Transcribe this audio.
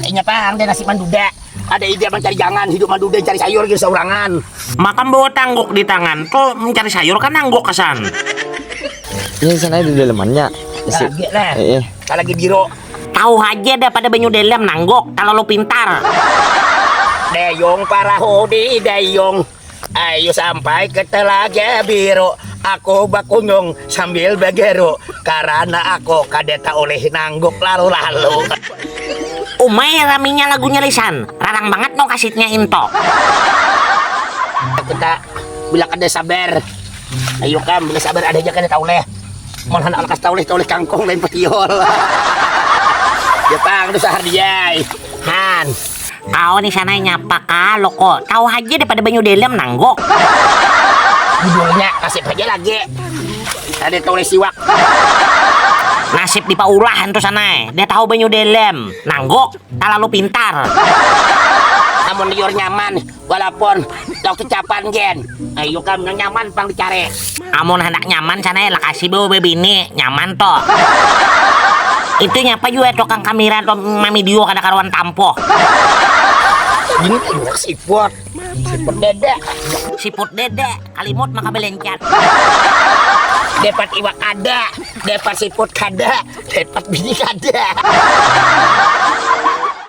Inya pang deh nasib manduda. Ada ide mancari jangan, hidup manduda cari sayur gin saurangan. Maka bawa tangguk di tangan, ko mencari sayur ka nangguk kasan. Ini sana ada dalemannya. Isi. Lagi lah. Eh, eh. Lagi biro. Tahu aja dah pada banyu dalam nangguk, terlalu pintar. Dayung parahu di dayung. Ayu sampai ke Telaga Biru, aku bakunjung sambil begeru, karana aku kada taulih nangguk lalu-lalu. Umai raminya lagunya Lisan, larang bangat no kasitnya into. Kita bila kada sabar, ayu kam bila sabar ada ja kada taulih, malahan alakas taulih taulih kangkung lain petiol. Ya pang, dusahar diai. Han. Kau ni sana nyapa ka loko, tahu haja daripada banyu dalam nangguk. Judulnya nasib haja lagi kada ditulis iwak. Nasib di paulah antu sana, dia tahu banyu dalam nangguk, talalu pintar. Amun liur nyaman, Walaupun tau kecapan gen, ayo kam nang nyaman pang dicari. Amun handak nyaman sana ya lakasi bawa babini, nyaman to. Itu nya apa jua tukang kamira tu mamidio kada karuan tampoh. Ini iwak siput, siput dede. Siput dede, kalimut maka belencat. Dapat iwak kada, dapat siput kada, dapat bini kada.